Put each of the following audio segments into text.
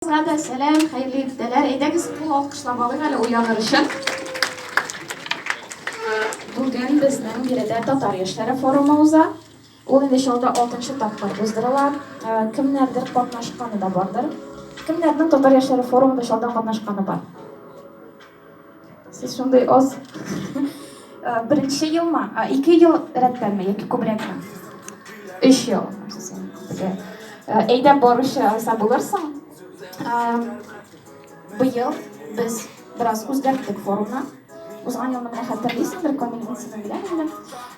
Барыгызга да сәлам, хәерле иртәләр. Әйдәгез, кул алкышлап алыйк әле уяныр өчен. Бүген безнең биредә татар яшьләре форумы уза. Ул инде Чаллыда 6 тапкыр уздырыла. Э, кемнәрдер катнашканы да бардыр. Кемнәрнең татар яшьләре форумында Чаллыда катнашканы бар? Сез шундый аз. Э, беренче елмы? А, ике ел рәттәнме яки күбрәкме? Өч ел. Э, әйдәп баручы Айса булырсың. Э, быел без бераз үзгәрттек форумны. Узган елны менә хәтерлисеңдер, Камил, мин сине беләм инде.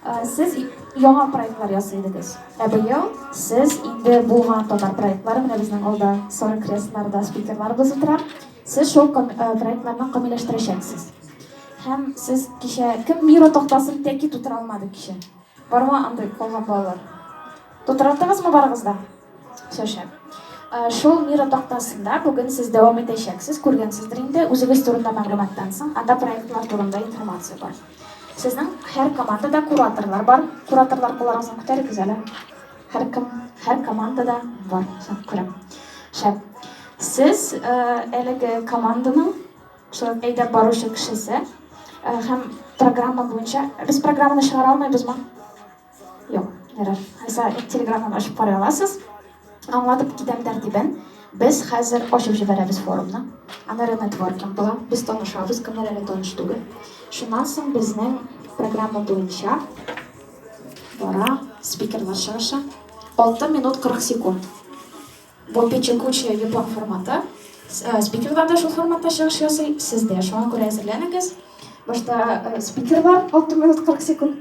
Э, сез яңа проектлар ясый идегез. Ә быел сез инде булган татар проектлары менә безнең алда сары кресларда спикерларыбыз утыра. Сез шул проектларны камилләштерәчәксез. Һәм сез кичә кем бюро тактасын тәки тутыра алмады кичә? Бармы андый калган балалар? Тутыраттыгызмы барыгыз да? Все шәп. Шул мира тактасында бүген сез дәвам итәчәксез, күргәнсездер инде, үзегез турында мәгълүматтан соң, анда проектлар турында информация бар. Сезнең һәр командада кураторлар бар. Кураторлар кулларыгызны күтәрегез әле. Һәркем, һәр командада бар соң күрәм. Шәп. Сез әлеге команданың шулай ук әйдәп баручы кешесе һәм программа буенча без программаны чыгара алмыйбызмы? Юк, ярар. Алайса телеграмманы ачып карый аласыз. Аңлатып китәм тәртибен. Без хәзер ачып җибәрәбез форумны. Аннары нетворкинг була. Без танышабыз, кемнәр әле таныш түгел. Шуннан соң безнең программа буенча. Бара спикерлар чыгышы. 6 минут 40 секунд. Бу печекучая япон форматы. Э, спикерлар да шул форматта чыгыш ясый, сез дә шуңа күрә әзерләнегез. Башта э, спикерлар 6 минут 40 секунд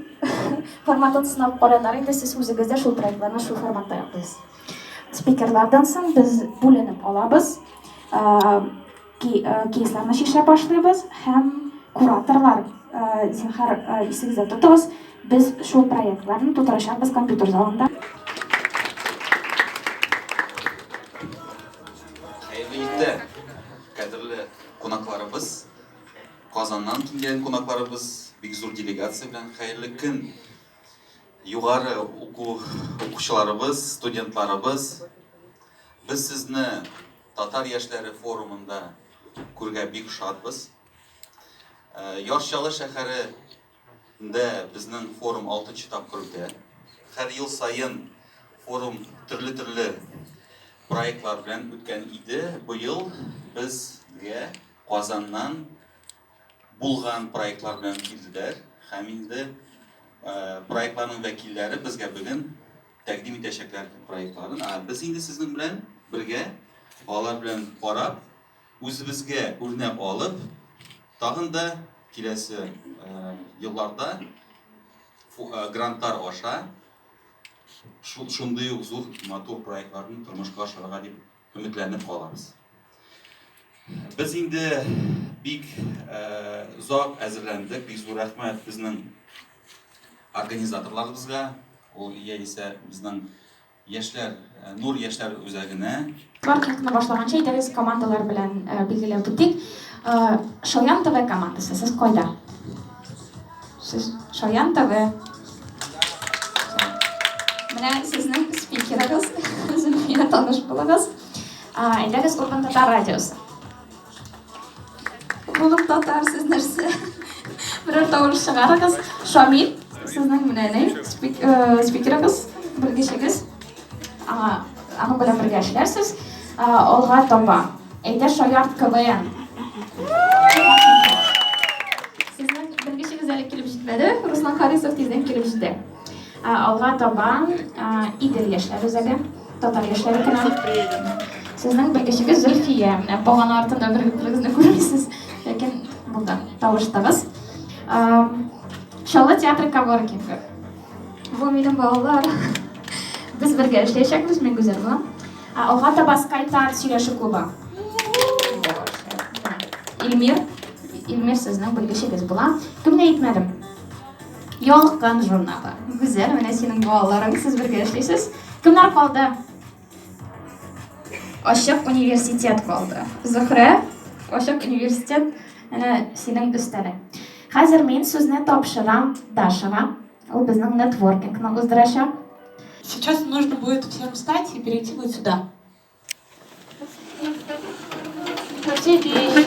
форматын сынап карадылар, инде сез үзегез дә шул проектларны шул форматта яклыйсыз. Спикерлардан соң без бүленеп алабыз. Э, Кейсларны чишә башлыйбыз һәм кураторлар, зинһар, исегездә тотыгыз, без шул проектларны тутырачакбыз компьютер залында. Хәерле ирләр! Кадерле кунакларыбыз, Казаннан килгән кунакларыбыз, бик зур делегация белән хәерле көн! Югары уку укучыларыбыз, студентларыбыз, без сезне Татар яшьләре форумында күргә бик шатбыз. Э, Яр Чаллы шәһәрендә безнең форум 6 нчы тапкыр үтә. Һәр ел саен форум төрле-төрле проектлар белән үткән иде. Быел безгә Казаннан Булган проектлар белән килделәр һәм инде проектларның вәкилләре безгә бүген тәкъдим итәчәкләр проектларын. Ә без инде сезнең белән бергә алар белән карап, үзебезгә үрнәк алып, тагын да киләсе елларда грантлар аша шундый ук зур матур проектларны тормышка ашырырга дип Өметләнеп калабыз. Без инде бик озак әзерләндек. Бик зур рәхмәт безнең организаторларыбызга, ул яисә безнең яшьләр, Нур яшьләр үзәгенә. Старт юлны башлаганчы әйдәгез командалар белән билгеләп үтик. Шаян ТВ командасы, сез кайда? Сез шаян таве. Менә сезнең спикерыгыз, Зөлфия таныш булыгыз. Әйдәгез Урман татар радиосы. Булып татар сез нәрсә? Берәр тавыш чыгарыгыз. Шамил, сезнең менә спикерыгыз, белгечегез. Аңа, аның белән бергә эшләрсез. Алга таба. Әйдә шаярт КВН. Сезнең белгечегез әле килеп җитмәде, Руслан Харисов тиздән килеп җитә. Алга таба Идел яшьләр үзәге, татар яшьләре көне. Сезнең белгечегез Зөлфия. Менә багана артында берегезне күрмисез, ләкин монда тавыштыгыз. Чаллы театры Каворкинг. Бу минем балалар. Без бергә эшләячәкбез, мин гүзәл була. Алга таба скайтар сөйләшү клубы. Илмир, Илмир сезнең белгечегез була. Кемне әйтмәдем? Ялкын журналы. Гүзәл, менә синең балаларың, сез бергә эшлисез. Кемнәр калды? Ачык университет калды. Зөһрә, ачык университет әнә синең өстәлең. Хәзер мин сүзне тапшырам Дашага. Ул безнең нетворкингны уздырачак. Сейчас нужно будет всем встать и перейти вот сюда. Все вещи.